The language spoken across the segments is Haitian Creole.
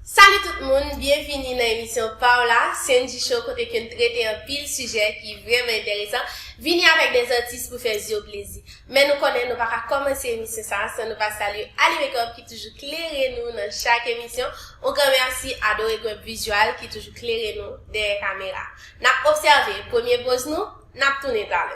Salut tout moun, byenvini nan emisyon paw la, Sendji Show kote ke n trete anpil sijè ki vrèman enteresan, vini avèk de zatis pou fè zyew plezi. Men nou konnen nou pa ka kòmanse emisyon sa san nou pa salye Ali Makeup ki toujou klere nou nan chak emisyon, on gran mèsi a Doregueb Visual ki toujou klere nou dèyè kamera. Nap obsève premye poz nou, nap tounen talè.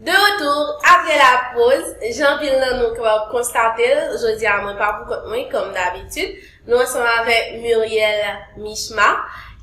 De retour apre la poz, jan anpil nan nou kapab konstate l, jodi a mwen pa pou kont mwen kòm dabitid, nou ansanm avèk Muriel Michma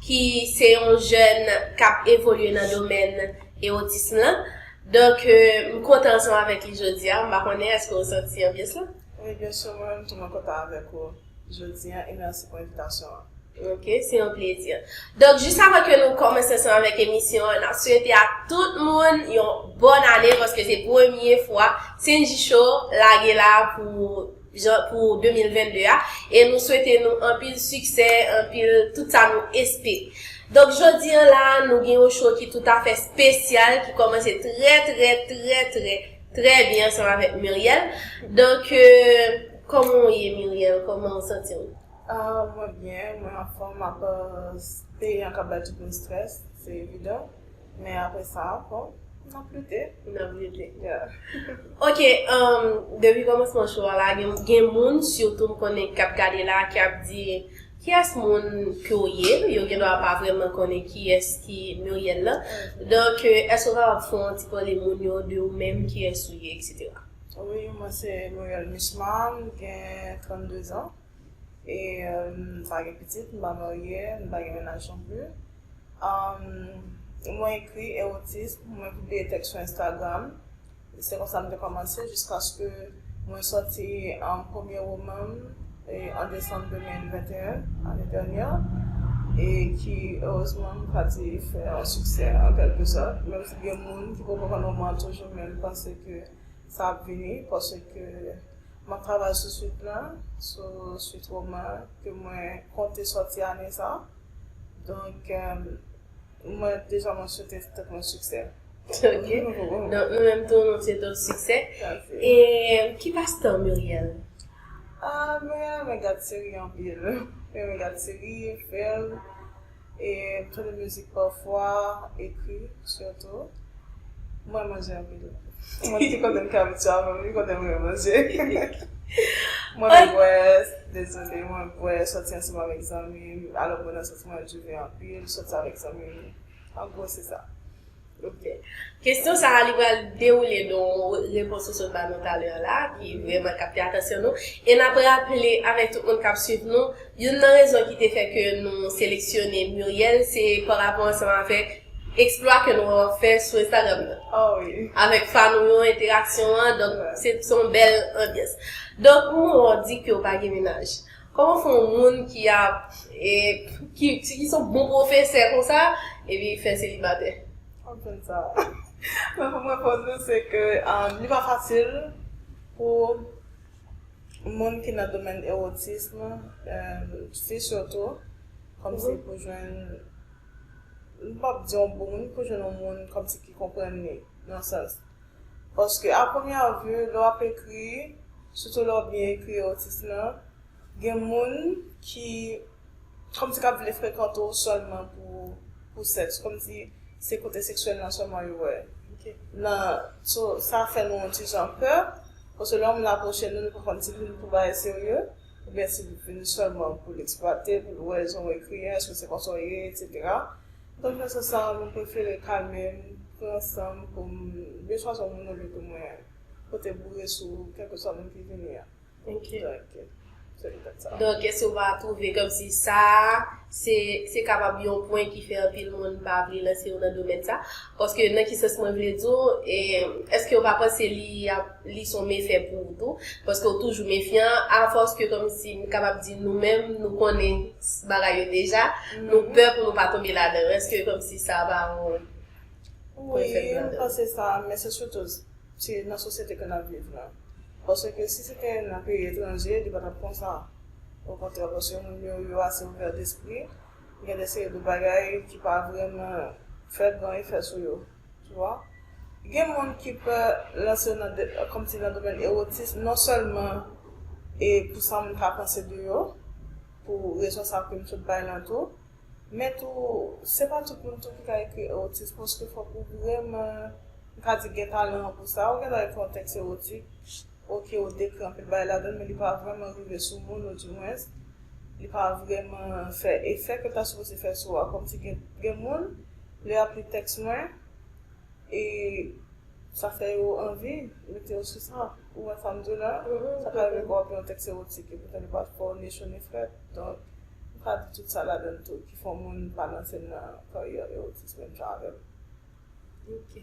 ki se yon jèn k ap evolye nan domèn ewotism lan. Donk m kontan ansanm avèk li jodi a, m pa konnen èske ou santi anbyans lan? Wi byensi mwen menm tou mwen kontan avèk ou. jodi an e mèsi pou envitasyon an. Ok, se yon plezi. Donk, jis avan ke nou kòmanse ansanm avèk emisyon an, n ap swete ak tout moun yon bòn ane paske se premye fwa Cndy Show lage la pou jan pou 2022 a e nou swete nou anpil siksè, anpil tout sa nou espe. Donk, jodi an la a nou gen yon show ki toutafè spesyal ki kòmanse trè trè trè trè trè byen ansanm avèk Murielle. Donk. Koman w ye Murielle koman w santi w. Ahh mwen byen mwen anfom map peyi an kap bay tout moun stress se evidan men aprè sa bon nap lite nap lite yeah ok humm depi komansman show a la gen moun surtout m konnen kap gade la ki ap di kiyès moun ke w ye yo gendwa pa vrèman konnen kiyès ki Murielle lan donk eske w kapab fè yon ti pale moun yo de ou menm kiyès ou ye etc. Wi, mwen se Noël Michman, m gen 32 zan. E m pa gen pitit, m pa marye, m pa gen mennaj non pli. Mwen ekri ewotik, mwen pibliye tèks sou Instagram. Se konsa m te kòmanse jiskaske mwen soti premye woman m an desanm 2021, ane dènyè. E ki erezman m ka di fè yon siksè an kèlke sòt. Menm si gen moun ki poko konn woman an toujou men m panse ke sa ap vini paske map travay sou swit lan sou swit roman ke mwen konte sòti ane sa donk mwen deja mwen swete tèt mwen siksè ok donk nou menm tou nou swete w siksè e ki pas tan Murielle? Murielle renmen gad seri anpil mwen renmen gad seri, film e m tande mizik pafwa, ekri sitou. M renmen manje anpil. Mwen m te konnen m ka fè sa men m te konnen m renmen manje. Mwen renmen bwè, dezole mwen renmen bwè, sòti ansanm avèk zanmi m, alò mwen nan sans mwen renmen jouve anpil, sòti avèk zanmi m, an gwo se sa. Ok. Kesyon sa a li pral dewoule don repons ou sot ba nou talè a la ki vrèman kapte atansyon nou. E n ap raple avèk tout moun k ap suiv nou, youn nan rezon ki te fè ke nou seleksyone Muriel se pa rapò ansanm avèk eksplwa ke nou wè w ap fè sou Instagram nan. Oh wi. Avèk fan ou yo, enteraksyon an, donk se yon bèl anbyans. Donk, Muro di ke w pa gen menaj. Koman fè yon moun ki ap ki ki son bon profesè konsa epi fè selibatè. Map tann sa. Mwen pou m reponn nou se ke li pa fasil pou moun ki nan domèn erotism, fi sitou, kòmsi pou jwenn m pap di yon bon moun pou jwenn yon moun kòmsi ki konprann li nan yon sans. Paske a premyè vu, lè w ap ekri, sitou lè w byen ekri otis lan, gen moun ki kòmsi k ap vle frekante w sèlman pou sèks, kòmsi se kote seksyèl lan sèlman yo wè. Nan, so, sa fè nou yon ti jan pè, paske lè yon moun apwoche nou, nou pa konn si l vin pou bagay serye, oubyen si l vin sèlman pou l eksplwate, pou l wè jan w ekri an, èske se konsa w ye, etsetera. Konfesyon sa mwen prefere kalmem, pran sanm poum byen chwazi yon moun olye pou mwen pote boure sou kelkeswa moun ki vini an. Donk se petèt sa. Donk èske ou pa twouve kòmsi sa se kapab yon pwen ki fè anpil moun pa vle lanse yo nan domèn sa? Paske nan ki sans mwen vle di w, èske ou pa panse li ap li son mefè pou ou tou? Paske ou toujou mefyan a fòs ke kòmsi m kapab di nou menm nou konnen bagay yo deja nou pè pou nou pa tonbe ladanl eske komsi sa pa yon Pou efè wi m panse sa men se sitou se nan sosyete ke nap viv la paske si se te nan peyi etranje li pa tap konsa okontrè paske moun yo yo ase ouvè despri gen de seri de bagay ki pa vreman fè gran efè sou yo. Tu vois? Gen moun ki pè lanse yo nan kòm si nan domèn erotism non sèlman e pou sa moun ka panse de yo, pou rezon sa ke m sot bay lan tou, men tou se pa tout moun tou ki ka ekri erotism paske fòk ou vrèman m ka di gen talan an pou sa. Ou gentan ekri yon tèks erotik, ok ou dekri anpil bagay ladan l men li pa vrèman rive sou moun ou di mwens li pa vrèman fè efè ke l ta sipoze fè sou a kòm si gen gen moun lè yap li tèks mwen e sa fè yo anvi mete yo sou sa ou wè sa m di w la sa ka rive pou wap li yon tèks ewotik e poutan li pa twò ni cho ni frèt donk m pa di tout sa ladann tou ki fè yon moun pa lanse nan karyè ewotism menm jan avè m Ok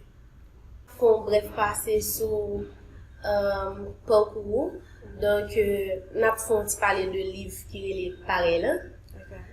Fè yon brèf pase sou pakou ou donk nap fè yon ti pale de liv ki rele Parèy lan Ok.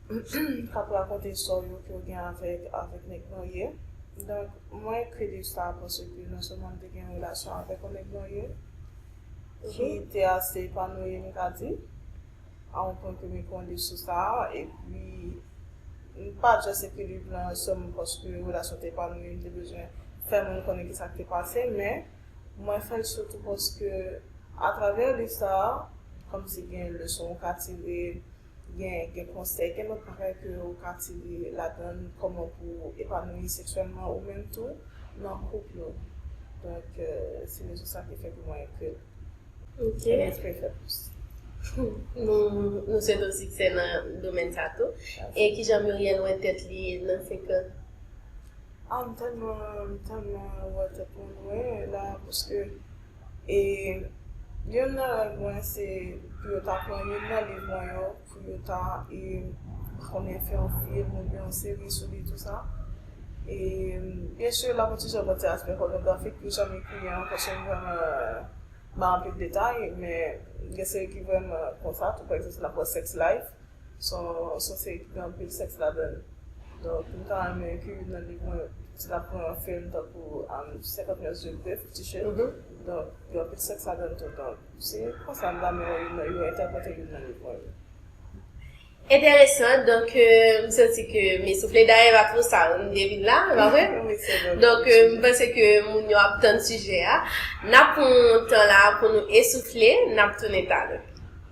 kap rakonte istwa yo ke yo gen avèk avèk nèg marye donk mwen kredi sa paske non sèlman m te gen yon relasyon avèk yon nèg marye ki te ase epanoui m ka di a yon pwen ke m ekri yon liv sou sa epi m pa jès ekri liv lan sèlman paske relasyon te epanoui m te bezwen fè moun konnen kisa k te pase men mwen fè l sitou paske atravè liv sa kòmsi gen leson ou ka tire gen gen konsèy gen lòt bagay ke ou ka tire ladann kòman pou epanouyi seksyèlman ou menm tou nan koup nou donk se rezon sa ki fè ke mwen ekri l Ok Mwen espere fè plis Nou swete w siksè nan domèn sa tou E kijan Murielle wè tèt li nan 5 an? Ah m tèlman m tèlman wè tèt mwen lwen la paske e youn nan rèv mwen se pou yo ta pran youn nan liv mwen yo pou yo ta e konnen fè yon fim ou byen yon seri sou li tou sa e byen si la mwen toujou ap gade aspè pònografik pou jan m ekri li an paske m vrèman bay anpil detay men gen seri ki vrèman konsa tou pa egzanp si n ap pran sex life son seri ki gen anpil sèks ladanl donk m ta renmen ke youn nan liv mwen si tap pran yon fim tankou 50 mètres de bleu fifty shades donk gen anpil sèks ladanl tou donk se konsa m ta renmen yo entèprete youn nan liv mwen yo. Enteresan donk m santi ke m esoufle dayè pa twou sa m devine la e pa vre donk m panse ke moun yo ap tann sijè a nap pran tan la pou nou esoufle nap tounen talè.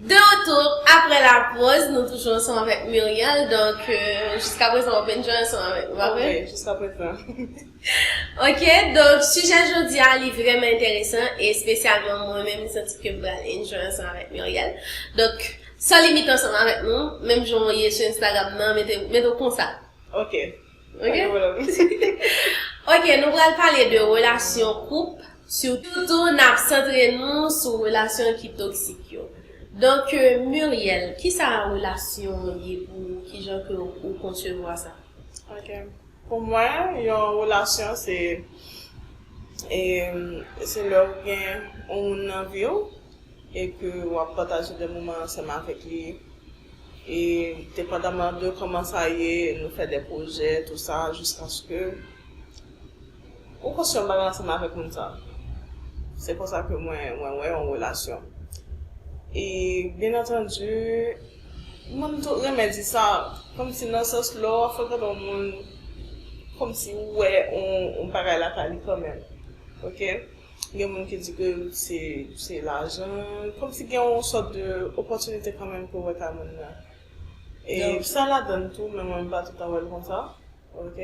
De retour aprè la pòz, nou toujou ansanm avèk Murielle, donk jiska prezan wap enjoy ansanm avèk nou, pa vre? Wi, jiska prezan. Ok, donk sijè jodi a li vrèman enteresan e espesyalman mwen menm m santi ke m pral enjoy ansanm avèk Murielle. Donk, san limit ansanm avèk nou, menm jan w ye sou Instagram nan, mete mete w konsa. Ok. Ok Ok nou pral pale de relasyon koup Sitou nap santre nou sou relasyon ki toksik yo Donk Muriel kisa relasyon ye pou ou kijan ke ou konsevwa sa? Ok pou mwen yon relasyon se Se lè ou gen yon moun nan viw e ke wap pataje de moman ansanm avèk li E depandaman de koman sa ye nou fè de pwojè tou sa jiskaske ou konstwi yon bagay ansanm avèk moun sa. Se konsa ke mwen mwen wè yon relasyon. E byen antandu mwen tou renmen di sa kòm si nan sans lè w ap frekante yon moun kòm si ou wè yon bagay lakay li kanmenm. Ok. Gen moun ki di ke se se lajan, kòm si gen yon sòt de opòtinite kanmenm ke w wè kay moun nan. E sa ladann tou, men mwen m pa toutan wè l konsa. Ok.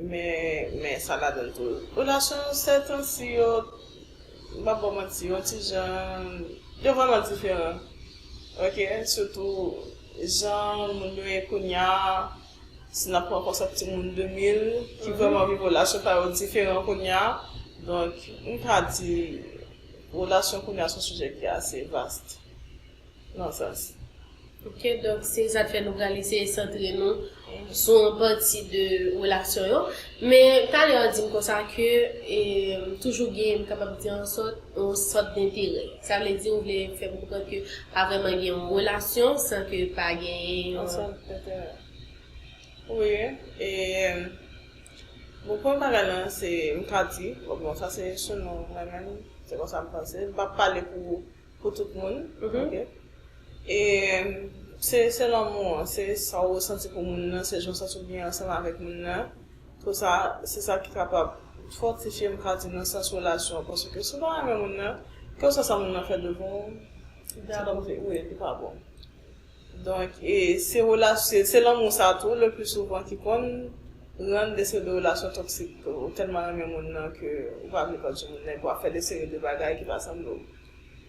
Men men sa ladann tou. Relasyon yo sè tan si yo, m pap ba w manti, yon ti jan, yo vrèman diferan. Ok, sitou jan moun yo ye kounya. si n ap pran konsèp timoun 2000 ki vrèman viv relasyon pa yo diferan kounye a. Donk, m ka di relasyon kounye a se yon sijè ki ase vast nan sans. Ok, donk se sa k fè nou pral eseye santre nou sou yon pati de relasyon yo. Men, talè w di m konsa ke toujou gen, m kapab di an sòt, yon sòt denterè. Sa vle di ou vle fè m konprann ke pa vrèman gen yon relasyon san ke pa genyen yon. Yon sòt denterè. Wi, e bon premye bagay lan se m ka di, bon sa se selon mwen menm, se konsa m panse, m p ap pale pou tout moun, ok. E se lanmou an, se sa ou resanti pou moun nan, se jan w santi w byen ansanm avèk moun nan. Konsa, se sa ki kapab fòtifye, m ka di nan sans relasyon an. Paske si w pa renmen moun nan, kèlkeswa sa moun nan fè devan w, se pa bon. Wi, li pa bon. Donk, e se relasyon, se lanmou sa tou le pli souvan ki konn rann de seri de relasyon toksik tou. Ou tèlman renmen moun nan ke ou pa vle pèdi moun nan epi w ap fè de seri de bagay ki pa sanble w.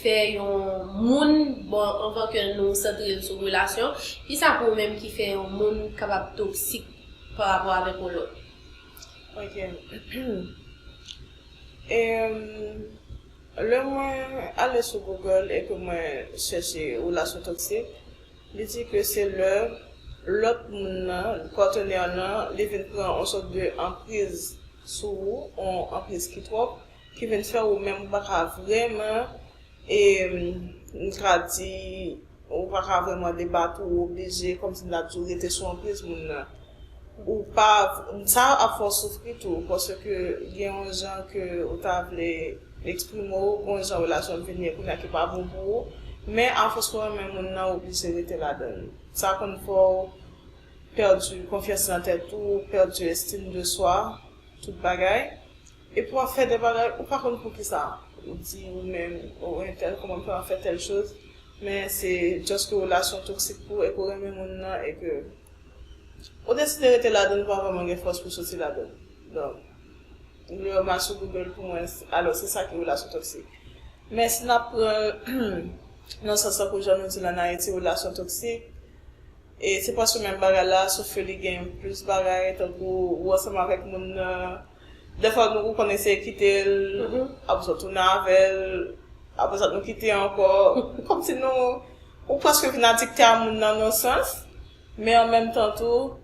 fè yon moun bon anvan ke nou santre l sou relasyon, kisa pou ou menm ki fè yon moun kapab toksik pa rapò avèk yon lòt? Ok Emm lè mwen ale sou Google e ke mwen chèche relasyon toksik, li di ke se lè lòt moun nan, partenaire nan, li vin pran yon sòt de anpriz sou ou, yon anpriz ki twòp, ki vin fè ou menm ou pa ka vrèman e m ka di ou pa ka vrèman debat ou oblije kòm si m ta di ou rete sou anpriz moun nan. Ou pa sa ap fè w soufri tou paske gen yon jan ke ou ta vle eksprime w, gen yon jan relasyon vin ye kounya ki pa bon pou ou, men afòs ou renmen moun nan ou oblije rete ladan l. Sa konn fè w pèdi konfyans nan tèt ou, pèdi estime de soi, tout bagay. Epi wap fè de bagay ou pa konn poukisa ou di ou menm oh entèl kòman m fè wap fè tèl choz men se just ke relasyon toksik pou e ke w renmen moun nan e ke ou deside rete ladan l ou pa vrèman gen fòs pou soti ladan l donk lè w mal sou Google pou mwen alò se sa ki relasyon toksik men si nap pran l nan sans sa pou jan nou di l an Ayiti relasyon toksik e se pwèske menm bagay la sof ke li gen plis bagay tankou ou ansanm avèk moun nan. Dèfwa nou konn eseye kite l, apre sa w tounen avè l, apre sa nou kite ankò. Kòmsi nou, ou prèske vin adikte a moun nan yon sans, men an menm tan tou,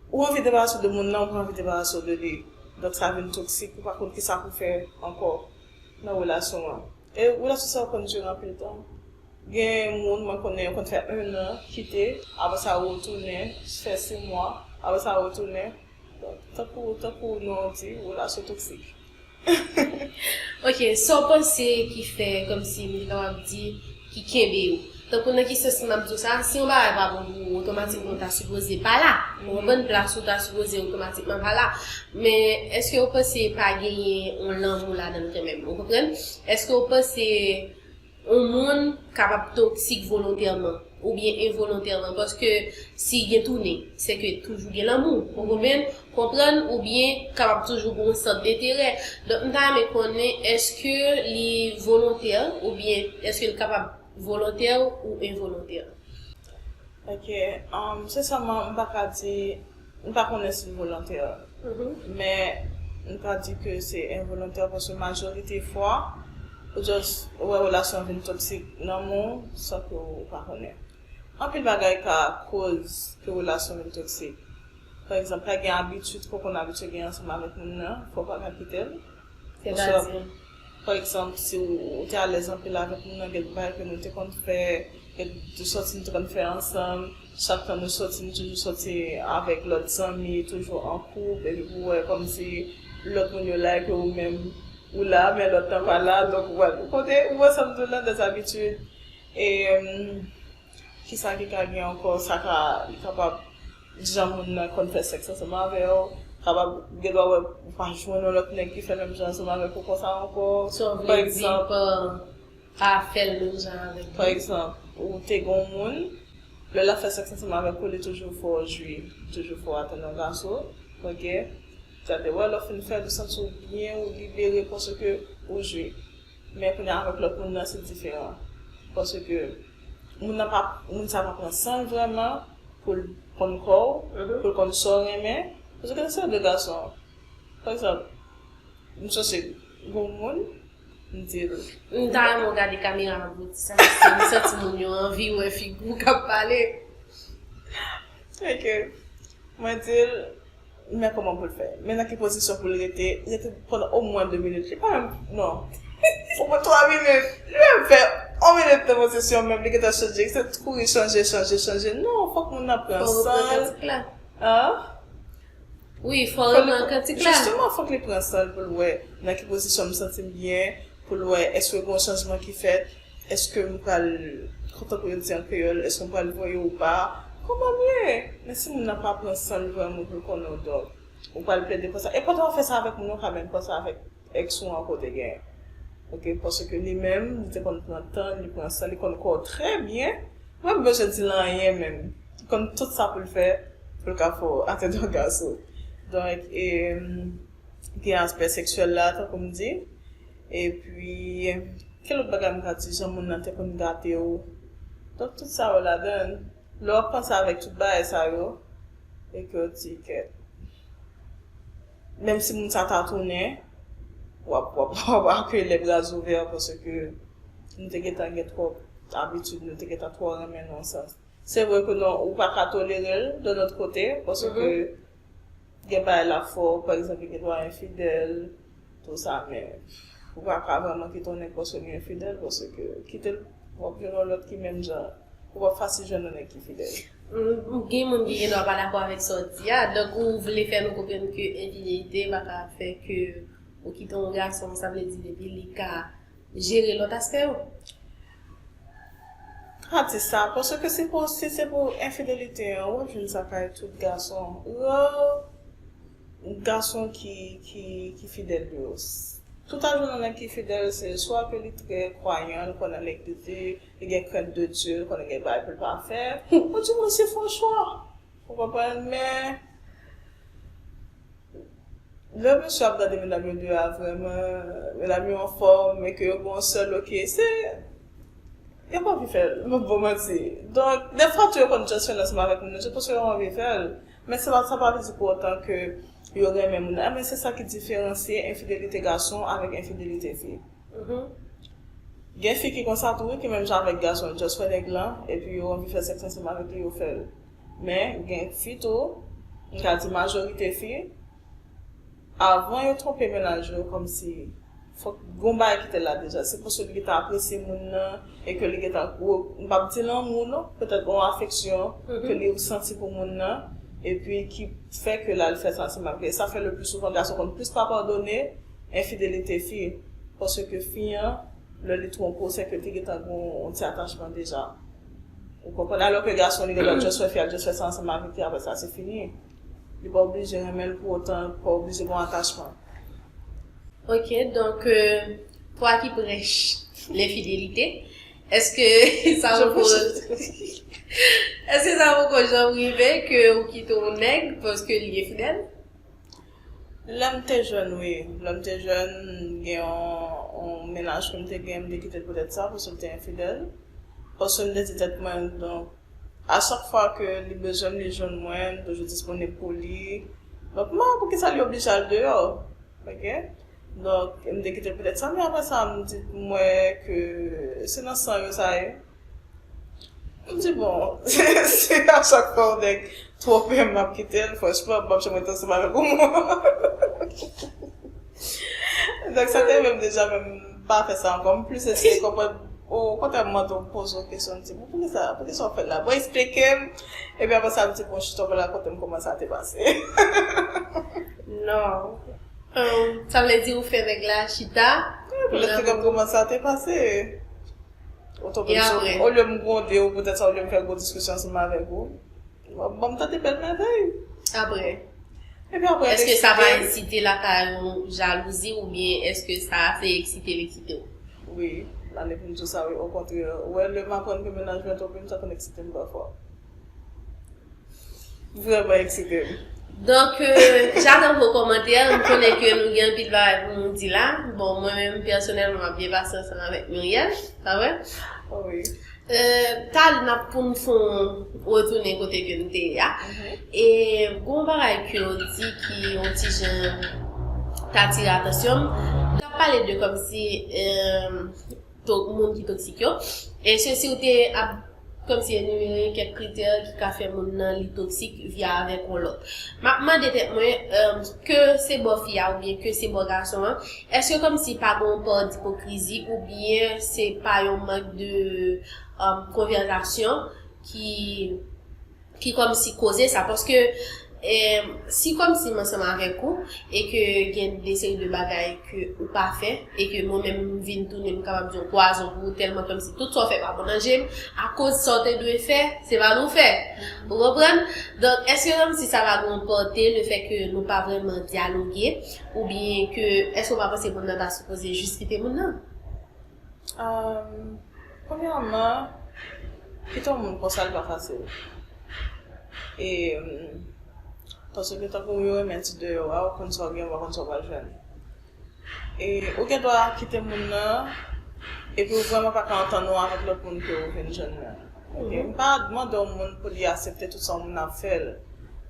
ou anvi debarase w de moun nan, ou pa anvi debarase w de li. Donk sa vin toksik, ou pa konn kisa pou fè ankò nan relasyon an. E relasyon sa yo konn dire anpil tan. Gen moun mwen konnen yo konn fè 1 an, kite, apre sa yo retounen, fè 6 mwa, apre sa yo retounen. Bon, tankou, tankou non an di, relasyon toksik. Ok, sa w panse ki fè, kòmsi m te kapab di, ki kenbe yo? Tankou nan ki sans m ap di w sa, si yon bagay pa bon pou ou, otomatikman ou ta sipoze pa la. Ou konprann? Plas ou ta sipoze otomatikman pa la. Men, èske ou panse pa genyen yon lanmou ladan l kanmenm? Ou konprann? Èske ou panse. On moun kapab toksik volontèman oubyen envolontèman paske si gen tounen se ke toujou gen lanmou ou konprann konprann oubyen kapab toujou gen yon sant denterè donk m ta renmen konnen eske li volontè oubyen eske l kapab volontè ou envolontè. Ok, um se sèlman m pa ka di M pa konnen si l volontè, men m ka di ke se envolontè paske majorite fwa ou just wè relasyon vin toksik nan men w san ke w pa konnen. Anpil bagay ka koz ke relasyon vin toksik. Pa egzanp, ka gen abitid ke w konn abitye gen ansanm avèk moun nan, fè w pa ka kite l. Oswa, pa egzanp, si w te alèz anpil avèk moun nan, gen bagay ke nou te konn fè, gen sòti nou te konn fè ansanm, Chak fwa nou soti nou toujou soti avèk lòt zanmi, toujou an koup epi pou wè kòmsi lòt moun yo la epi ou menm ou la men lòt lan pa la donk ou wè kote ou wè sa m di w lan des habitudes e kisa ki ka gen ankò sa ka li kapab jan moun nan konn fè sèks ansanm avè w kapab gendwa wè ou pa jwenn yon lòt nèg ki fè menm jan ansanm avèk ou konsa ankò pa egzanp. Pa fè l menm jan avèk li. Pa egzanp, ou te gen yon moun, lè l ap fè sèks ansanm avèk ou li toujou fè w jwi, li toujou fè w atann yon vaso, ok, sa te wè lè w fin fè l ou santi w byen, ou libere paske ou jwi. Men kounye a avèk lòt moun nan se diferan. Paske moun nan pa, moun sa pa pran san l vrèman pou l konn kò w, pou l konn sa w renmen. Paske lè se yon de gason, pa egzanp, m sòsi gen yon moun. M di l. M ta renmen w gade kamera an bouti sa paske m santi moun yo anvi wè figi w k ap pale. Ok. Mwen di l. M wè kòman pou l fè. Men nan ki pozisyon pou l rete. Rete pandan omwen 2 minit. Li pa menm. Non. Omwen 3 minit. Li pa menm fè 1 minit nan pozisyon menm. Li gentan chanje. Li se t kouri chanje, chanje, chanje. Non, fòk moun nan pran san l. Fò w reprezantik la. An? Wi, fò li pran kantik la. Jisteman fòk li pran san l pou l wè nan ki pozisyon m santi m byen, pou l wè èske gen yon chanjman ki fèt, èske m pral, tankou yo di an kreyòl, èske m pral voye ou pa. Konprann byen! Men si moun nan pa pran san l vrèman pou l konnen w donk, ou pral plede konsa. E pa ta fè sa avèk moun nan, ou pa menm fè sa avèk. Ex ou an kote gen. Ok paske li menm li te konn pran tanl li pran sanl li konn kòw trè byen mwen p bezwen dil anyen menm li konn tout sa poul fè poul ka fè w atè dò gaso donk gen aspè seksyèl la tankou m di epi ki lòt bagay m ka di jan moun nan te konn gade w donk tout sa yo ladann lè wap panse avèk tout bagay sa yo e ke w di ke. menm si moun sa ta tounen, wap wap akeyi l le bras ouvert paske nou te gentan gen twòp abitid, nou te gentan twò renmen nan yon sans. Se vre ke nan ou pa ka tolere l de lòt kote paske gen bagay lap fè w, pa egzanp li gen dwa enfidèl, tou sa men ou pa ka vrèman kite yon nèg paske li enfidèl paske kite l wap jwenn yon lòt ki menm jan, ou pap fasil jwenn yon nèg ki fidèl. M gen moun ki gen dwa pa dakò avèk sa w di a, donk ou vle fè nou konprann ke enfidèlite pa ka fè ke ou kite yon gason sa vle di depi li ka jere lòt aspè yo? M pa di sa, paske se pou si se pou enfidèlite an w ap jwenn sa kay tout gason, rare gason ki ki fidèl yo, tout a jwenn yon nèg ki fidèl se swa ke li trè kwayan, li kwè nan legliz li. li gen crainte de Dieu, li konnen gen bagay pou l pa fè, ou di moun se fon chwa. Ou konprann? Men, lè mesye ap gade medam yo de a vrèman, medam yo anfòm e ke yo gen yon sèl ok, se, yo pa anvi fè l, m ap ba w manti. Donk, dèfwa tou yo konn just fè l ansanm avèk moun nan just paske yo anvi fè l. Men se pa, sa pa vle di pou otan ke yo renmen moun nan. Enben, se sa ki diferansye enfidelite gason avèk enfidelite fi. Humm gen fi ki konsa tou wi ki menm jan avèk gason yo just wè nèg lan epi yo anvi fè sèks ansanm avèk li yo fèl men gen fi tou m ka di majorite fi avan yo twonpe mennaj yo kòmsi fòk gon bagay ki te la deja se paske li gentan apresye moun nan e ke li gentan gwo m p ap di lanmou non petèt gon afeksyon ke li santi pou moun nan epi ki fè ke l al fè sa ansanm avèk li e sa fè le pli souvan gason konn plis pa padone enfidelite fi paske fi an lè li twonpe w sèke te gentan gen yon ti atachman deja ou konprann alò ke gason li gendwa just wè fi a just fè sa ansanm avèk li aprè sa se fini li pa oblije renmen l pou otan li pa oblije gen yon atachman. Ok donk pwa ki prèch lenfidelite eske sa poko eske sa poko janm rive ke ou kite yon nèg paske li enfidèl? Lè m te jèn wi, lè m te jèn m gen yon mennaj ke m te gen m te kite l poutèt sa paske l te enfidèl, paske m te di tèt mwen donk a chak fwa ke li bezwen m li jwenn mwen m toujou disponib pou li donk m pa wè poukisa li oblije al deyò ok donk m te kite l poutèt sa men aprè sa m di m wè ke se nan san yo sa ye. M di bon, si a chak fwa yon nèg twonpe m m ap kite l, franchman m p ap janm ret ansanm avèk yon moun. Donk sa te rive m deja men m pa fè sa ankò. M plis eseye konprann, okontrè m mande w, m poze w kesyon, m di bon poukisa, poukisa w fè l la? Bon esplike m, epi aprè sa m di bon chita w pral rakonte m kouman sa te pase. Non. Sa vle di ou fè nèg la chita pou l rakonte w kouman sa te pase. Ou tonbe m sou, olye m gronde ou, poutèt sa olye m fè gwo diskisyon ansanm avèk ou, ban m tande bèl mèvèy. Apre? Epi apre l te kite m. Èske sa pa eksite lakay ou jalouzi oubyen èske sa te eksite li kite w? Wi, m ale pou m di w sa wi, okontrè. Ou wè, lè m aprann ke mennaj mwen tonbe m, sa konn eksite m pafwa. Vreman eksite m. Donk, j'attends vos commentaires, m konnen ke nou gen anpil bagay pou nou di la. Bon, mwen menm pèsonèlman m'ap byen pase ansanm avèk Murielle, pa vre? Wi. Talè n'ap pou nou fon retounen kote ke nou te ye a. E gon w bagay ke w di ki yon ti jan t'atire atansyon m. T'ap pale de kòmsi to moun ki toksik yo. E se si ou te ap kòmsi enimere kèk kritè ki ka fè moun nan li toksik via avèk on lòt. M ap mande tèt mwen, ke se bò fi a oubyen ke se bò gason an, èske kòmsi pa gen on pò dipokrizi oubyen se pa yon mank de konvèzasyon ki ki kòmsi koze sa paske si kòmsi m ansanm avèk ou e ke gen de seri de bagay ke ou pa fè e ke mwen menm m vin tounen m kapab di yon pwazon pou ou tèlman kòmsi tout sa w fè pa bon nan je m akoz sa w te dwe fè se pa nou fè ou konprann donk èske kòmsi sa pa gen yon pòte le fè ke nou pa vrèman dyaloge oubyen ke èske w pa panse moun nan ta sipoze jis kite moun nan. Premyèman, kite yon moun konsa li pa fasil. E, paske tankou yo renmen di deyò a, ou konn sa ou gen, ou pa konn sa ou pral jwenn. E, ou gen dwa kite moun nan, epi ou vrèman pa ka antann ou avèk lòt moun ke ou vin jwenn nan. Oke? M pa mande yon moun pou li asepte tout sa yon moun ap fè l.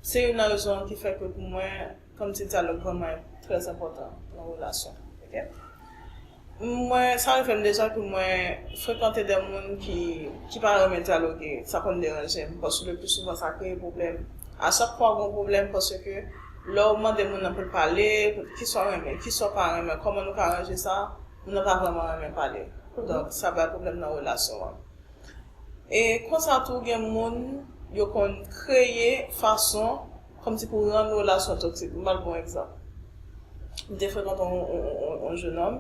Se youn nan rezon ki fè ke pou mwen. Kom ti dyalog vreman très enpotan nan relasyon ok mwen sa konn fem dezod pou mwen frekante de moun ki ki pa renmen dyaloge sa konn deranjem paske le plus souvent sa kreye pwoblem a chak fwa gon pwoblem paske le ou mande moun nan poul pale kisa ou renmen kisa ou pa renmen koman nou ka ranje sa moun nan pa vreman renmen pale donk sa bay pwoblem nan relasyon an e konsa tou gen moun yo konn kreye fason kòmsi pou rann yon relasyon toksik. M bal bon egzanp. M te frekante yon jenòm,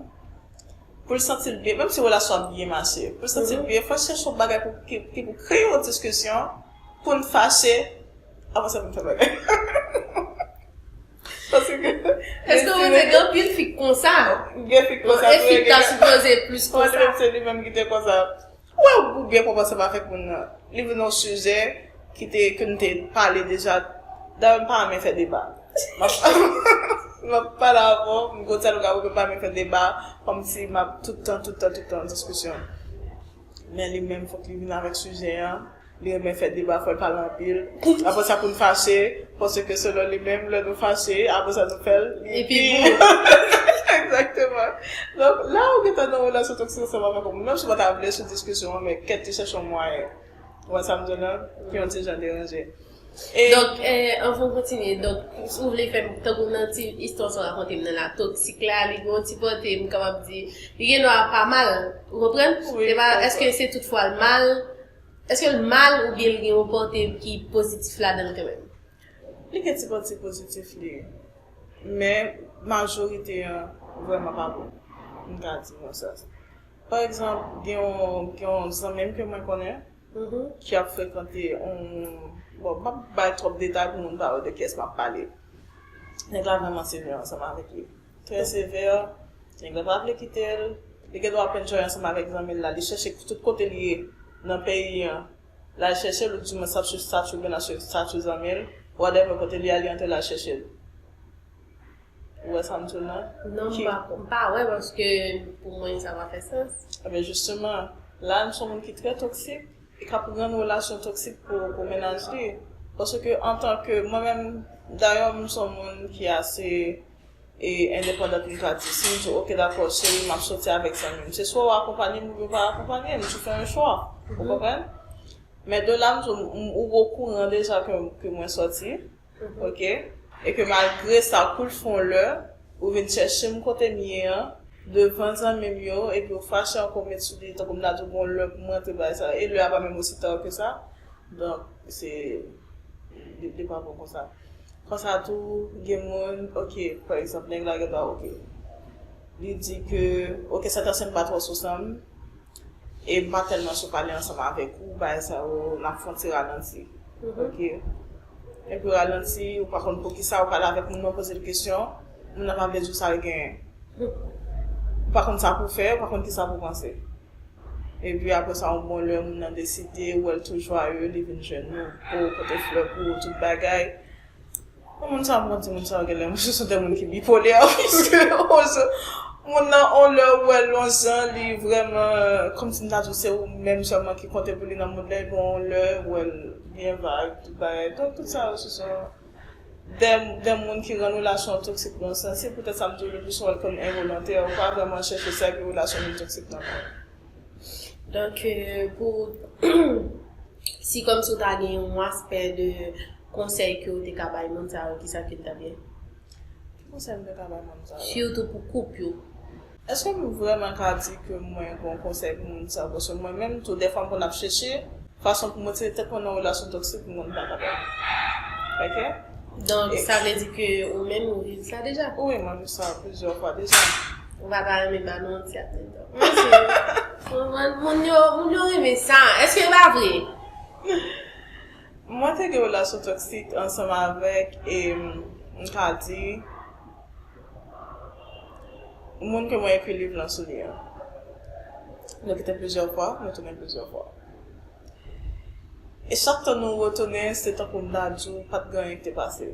pou l santi l byen, menm si relasyon an byen mache, pou l santi l byen, fò l chèche yon bagay pou ki pou kreye yon diskisyon pou n fache, apre sa pou n fè bagay. Paske gen fi. Èske ou konnen gen anpil fi k konsa? Gen fi k konsa. Bon, e fi k ta sipoze plis konsa. Mwen te di se li menm ki te konsa. Ou wè ou byen konprann sa m avèk moun nan. Li vin yon sijè ki te ke m te pale deja. Dayè m pa renmen fè deba. M ap m ap pale avè w, m gon ti aloga avè w men m pa renmen fè deba kòmsi m ap tout tan tout tan tout tan nan diskisyon. Men li menm fòk li vin avèk sijè an. Li renmen fè deba, fò l pale anpil. Apre sa pou n fache, paske selon li menm, lè nou fache, apre sa nou fè l, li pi gou. Egzakteman. Donk, lè ou gentan nan yon relasyon toksik ansanm avèk yon moun, menm si ou pa ta vle sou diskisyon an, men kèt li chèche yon mwayen. Ou wè sa m di w la? Ki yon ti jan deranje. E. Donk, anvan m kontinye, donk, si ou vle fè m, tankou nan ti istwa sa w rakonte m nan la, toksik la, li gen yon ti kote, m kapab di, li gendwa pa mal. Ou konprann? Wi, m konprann. Se pa, èske se tout fwa l mal? Eske l mal oubyen l gen yon kote ki pozitif ladan l kanmenm? Li gen ti pati pozitif li, men majorite an vrèman pa bon, m ka di konsa. Pa egzanp, gen yon zanmi m ke mwen konnen ki ap frekante yon, bon, m pa p bay twòp detay pou moun pa wè de kiyès m ap pale. Nèg la vrèman sevè ansanm avèk li. Trè sevère, nèg lan pa vle kitel, li gen dwa ap enjoy ansanm avèk zanmil la, li chèche tout kote li ye nan peyi an lal chèchel ou di mwens lap swiv statut oubyen lap swiv statut zanmil, whatever kote li al li antre lal chèchel. Ou wè sam diw nan? Non m pa m pa wè paske pou mwen sa pa fè sans. Ebyen jisteman, la nou son moun ki trè toksik e kap rann relasyon toksik pou mennaj li paske antanke mwen menm dayè m son moun ki ase e endepandant li pa di. Si m di w ok dakò cheri m ap soti avèk zanmi m, se swa w akonpanye m oubyen w pa akonpanye m, se fè yon chwa. Ou konprann? Men de la m di w ou okouran deja ke mwen soti, ok, e ke malgre sa kou l fon lè, ou vin chèche m kote m ye an, devan zanmi m yo, epi ou fache ankò ou met sou li tankou m ta di w gon lè pou m rantre bay sa, e lè a pa menm osi ta ke sa, donk se, li pa bon konsa. Konsa tou gen moun ok pa egzanp nèg la gen dwa ok li di ke ok sa tansyon m pa twò sou san m e m pa tèlman chou pale ansanm avèk ou bagay sa yo n ap fè yon ti ralanti ok epi ralanti ou pa konn poukisa ou pale avèk moun nan ou poze l kesyon moun nan pa vle di w sa l genyen ou pa konn sa pou w fè ou pa konn kisa pou w panse. Epi aprè sa yon bon lè moun nan deside wè l tou jwaye, li vin jwenn nou, po, pote flè pou ou, tout bagay. Bon moun sa m konn di moun sa yo genlè se sou de moun ki bipolè paske moun nan yon lè ou wè l yon jan li vrèman kòmsi m ta di w se ou menm sèlman ki konte pou li nan mond la epi yon lè ou wè l byen vag tout bagay. Donk tout sa yo se sou. de moun ki rann relasyon an toksik nan yon sans, se poutèt sa m di w leplisi w wè l kòm envolontè, ou pa vrèman chèche sa ki relasyon vin toksik nan kò w. Donk pou ou si kòmsi w ta gen yon aspè de konsèy ke w te ka bay moun sa yo, kisa ke l ta byen? Ki konsèy m te ka bay moun sa yo? Sitou pou koup yo. Eske m vrèman ka di ke mwen gon konsèy pou moun sa yo paske mwen menm tou dèfwa m konn ap chèche fason pou m retire tèt mwen nan relasyon toksik m konn pa kapab ok. Donk sa vle di ke ou menm ou viv sa deja? Wi mwen viv sa plizyè fwa deja. Ou pa ta renmen ba nou yon ti atenn tanpri? Moun yo moun yo renmen sa eske yo pa vle? Mwen te gen relasyon toksik ansanm avèk e m ka di. Moun ke mwen ekri liv lan sou li an. Nou kite plizyè fwa, nou tounen plizyè fwa. E chak tan nou retounen, se tankou dadju pa t gen anyen ki te pase.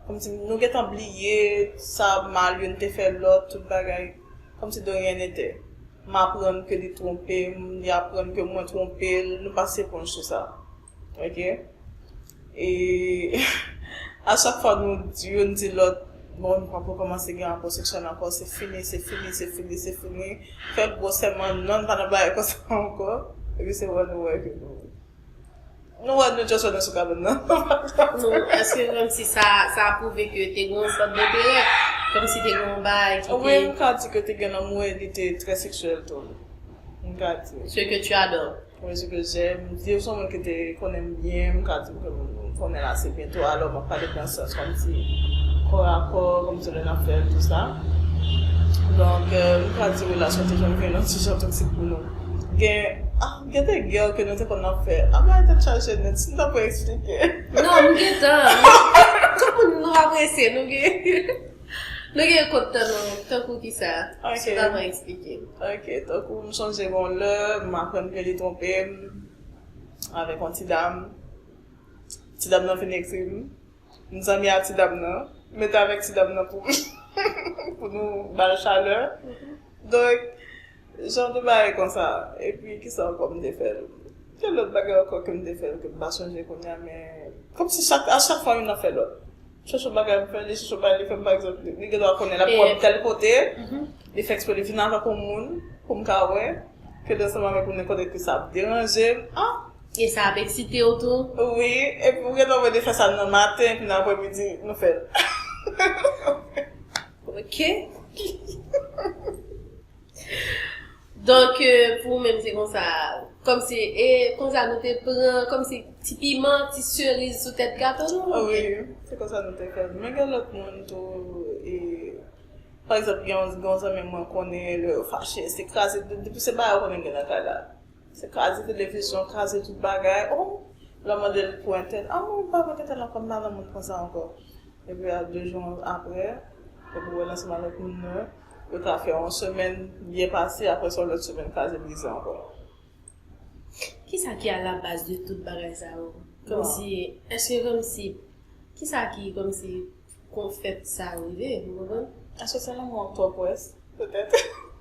Kòmsi nou gen tan bliye sa mal youn te fè lòt, tout bagay kòmsi de ryen nete. M aprann ke li twonpe m, li aprann ke mwen twonpe l, nou pase eponj sou sa. Ok e a chak fwa nou youn di lòt bon nou pap rekomanse gen rapò seksyèl ankò se fini se fini se fini se fini fè gwo sèman non nou pa nan bagay konsa ankò epi se wè nou wè ke nou nou wè nou just wè nou sou kabann nan nou èske kòmsi sa sa pwouve ke te gen yon sòt denterè kòmsi te gen yon bagay ki te wi m ka di ke te gen lanmou e li te trè seksyèl tou m ka di ce que tu adores Mwen di ke jè, m di yo son moun ki te konnen m byen, m ka di w ke m konnen l ase byen tou, alò m ap pale nan sans kòm si kò a kò, kòm si lè n ap fè tout sa. Donk, m ka di relasyon te janm vin yon ti jan toksik pou nou. Gen, ah, gen de gè ke nou te konn ap fè. Ah bagay tèt chaje nèt, si m ta pou eksplike. Non, m gentan. Tout moun nou apresye nou gen. Nou gen kont tan nou tankou kisa? Si pa mwen eksplike. Ok, tankou m sonje gen yon lè m aprann ke li twonpe m avèk yon ti dam. Ti dam nan fin ekri m. M zanmi a ti dam nan. M met avèk ti dam nan pou pou nou ba l chalè. Donk. Jan de bagay konsa epi kisa ankò m te fè l? Gen lòt bagay ankò ke m te fè l ke m pa sonje kounye a men kòmsi chak a chak fwa youn ap fè lòt. Chak jou bagay m fè li chak jou bagay li fè m pa egzanp li gen dwa konnen l ap wè m tèl kote li fè eksprè li vin avan pou moun pou m ka wè ke l ansanm avèk m nenpòt epi sa ap deranje m a. E sa ap eksite w tou. Wi epi ou gen tan wè li fè sa nan maten epi nan aprè midi nou fè l. Ok Donk pou ou menm se konsa Kòm si e konsa nou te pran Kòm si ti piman ti seriz sou tèt gato nou ou byen Wi se konsa nou te fèl Men gen lòt moun tou e Pa egzanp gen yon zanmi mwen konnen lè yo fache se kraze Depi se bagay ou konnen gen nan kay la. Se kaze televizyon kaze tout bagay oh lè w mande l pou entèt ah mwen pa vle entèt lan kòm m pa vle moun konsa ankò epi a 2 jou aprè epi w wè nan seman lòt moun nan yo ta fè yon semèn byen pase aprè sa yon lòt semèn kaze brize ankò. Kisa ki a la baz de tout bagay sa yo kòmsi èske kòmsi kisa ki kòmsi fè sa rive ou konprann? Èske se lanmou ak twòp wè petèt.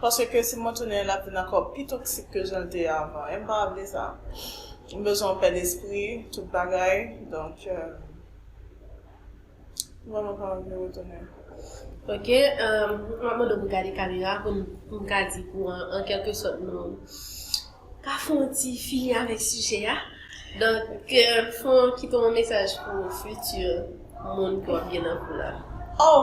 Paske si mwen tounen lap vin ankò pi toksik ke janl te ye avan em pa vle sa m bezwen yon pè despri tout bagay donk m vreman pa anvi retounen. Ok map mande w pou gade kamera pou m ka di pou an kelke sòt nou ka fon ti fini avèk sijè a donk fon kite yon mesaj pou fiti moun ki wap gen nan kou la. Oh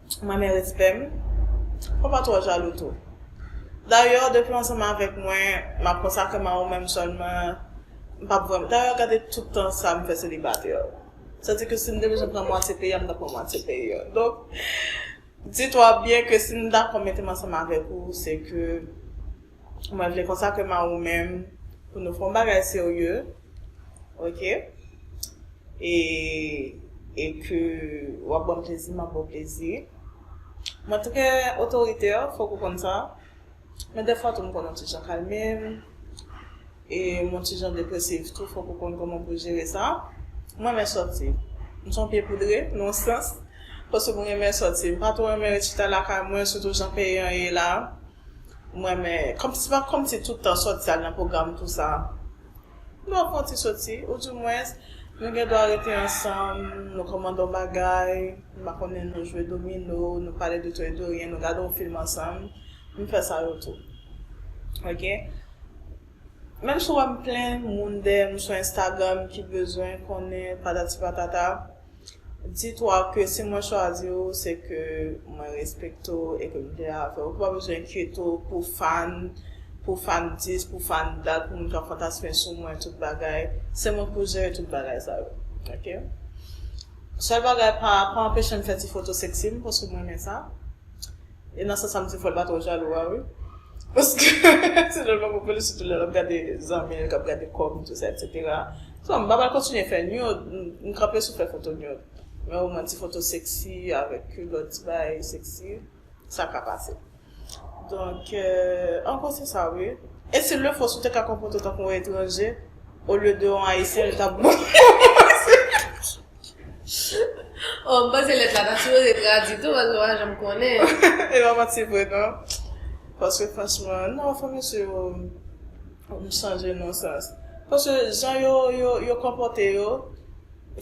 Manmie respè m. Fò pa twò jalou tou. Dayè depi w ansanm avèk mwen m ap konsakre m a ou menm sèlman m pap vrèman dayè gade tout tan sa m fè selibatè sa di ke si m te bezwen pran mwatye peyi a m t ap pran mwatye peyi a donk di twa byen ke si m dakò mete m ansanm avèk ou se ke Mwen vle konsakre m a ou menm pou nou fè yon bagay serye, ok, e, e ke w ap ban m plezi, m ap ba w plezi. Mwen trè otoritè, fòk ou konn sa. Men dèfwa tou m konn yon ti jan kalme m, e m yon ti jan depresif tou, fòk ou konn kòman pou jere sa. M renmen sòti. M se yon pye poudre, nan yon sans, paske m renmen sòti. M pa twò renmen ret chita lakay mwen, sitou jan peyi an ye la. M renmen kòm si pa kòm si tout tan sòt sa nan pwogram tou sa. M dwa fon ti soti ou di mwens nou gen dwa rete ansanm nou kòmande yon bagay m pa konnen nou jwe domino nou pale de to e de ryen nou gade yon film ansanm m fè sa yo tou ok. Menm si w wè m plen moun dèyè m sou instagram ki bezwen konnen patati patata. Di twa ke si mwen chwazi ou se ke mwen respekte w e ke m klè avè w. Ke w pa bezwen enkyete w pou fan, pou fandis, pou fandad, pou moun k ap fantasme sou mwen tout bagay. Se mwen pou jere tout bagay sa yo. Ok. Sèl bagay pa anpeche m fè ti foto seksi m paske m renmen sa. E nan sans sa m di fò l pa twò jalou a wi. Paske sinon l pa pou li sitou lè l ap gade zanmi l k ap gade kò m tou sa eksetera. Bon m pa pral kontinye fè nude, m kanpe sou fè foto nude. Men o mwen ti foto seksi avèk kilòt ti bagay seksi sa ka pase. Donk an gwo se sa wi. E s'il le faut si w te ka konpòte w tankou yon etranje olye de yon ayisyen l t ap bon pou ou. Oh m panse lèt la ta sipoze tradwi tou paske m pa janm konnen. E pa manti vre non. Paske franchman, non fò mesye yo m chanje non sans. Paske jan yo yo konpòte yo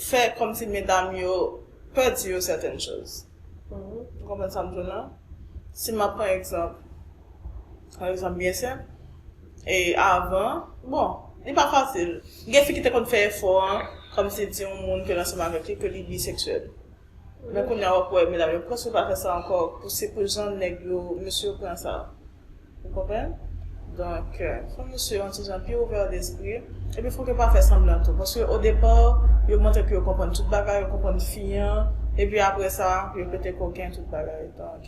fè kòmsi medam yo pè di yo sèten choz. Ou konprann sa m di w lan? Si m ap pran egzanp, yon egzanp byen senp. e avan bon li pa fasil gen fi ki te konn fè efò an kòmsi di yon moun ke l ansanm avèk li ke li bisexuel men kounya wap wè medam yo prèske pa fè sa ankò pou se pou jan nèg yo mesye yo pran sa ou konprann donk fòk mesye yo yon ti jan pi ouvè lespri epi fòk yo pa fè sanblan tou paske odepà yo montre ke yo konprann tout bagay yo konprann fi an epi aprè sa yo pete koken tout bagay donk.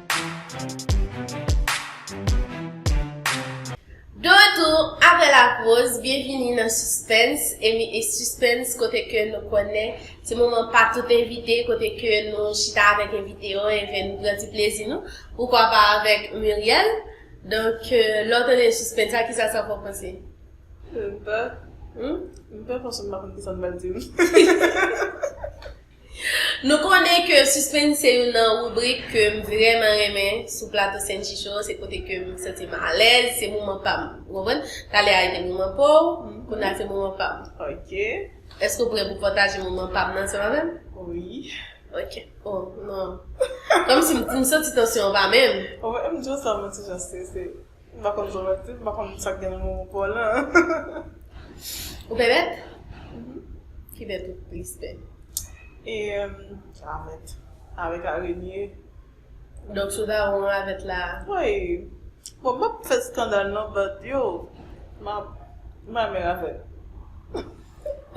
De retou apre la poz, byenvini nan Suspens, emi e Suspens kote ke nou konnen se moman pa tout envite kote ke nou chita avèk envite yo enben nou pran ti plezi nou, poukwa pa avèk Murielle. Donk lè w tande Suspens la kisa sa fè w panse? M pè. M pè paske m pa konn kisa m pral di. Nou konnen ke Suspense se youn nan ribrik ke m vrèman renmen sou plato Senchi Show, se kote ke m santi m alèz, se moman pa m. Ou konprann? Talè a te moman pa w, kounye a se moman pa m. Ok. Èske w prè pou pataje moman pa m nan ansanm avè m? Wi. Ok. O, non. Kòmsi m santi tansyon an pa menm. Ou wè m di w sa mwen ti jan strese. M pa konn Volant tou, m pa konn sa k gen nan mo Volan an. Ou pè bèt? Ki bèt ou plis pè? Ravèt, avèk arenye. Donk si w ta wè yon ravèt la? Woy! Bon, m pap fè skandal non but yo, m ap, m pa renmen ravèt.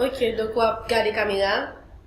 Ok, donk w ap gade kamera a.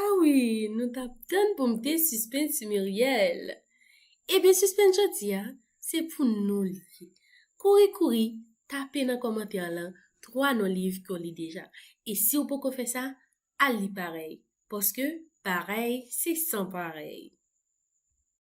Ah wi nou tap tann pou mnte sispann ti Muriel Ebyen sispann jodia se pou nou li ye Kouri kouri tape nan kòmantè lan 3 non liv ke w li deja e siw poko fè sa al li parèy paske parèy se san parèy.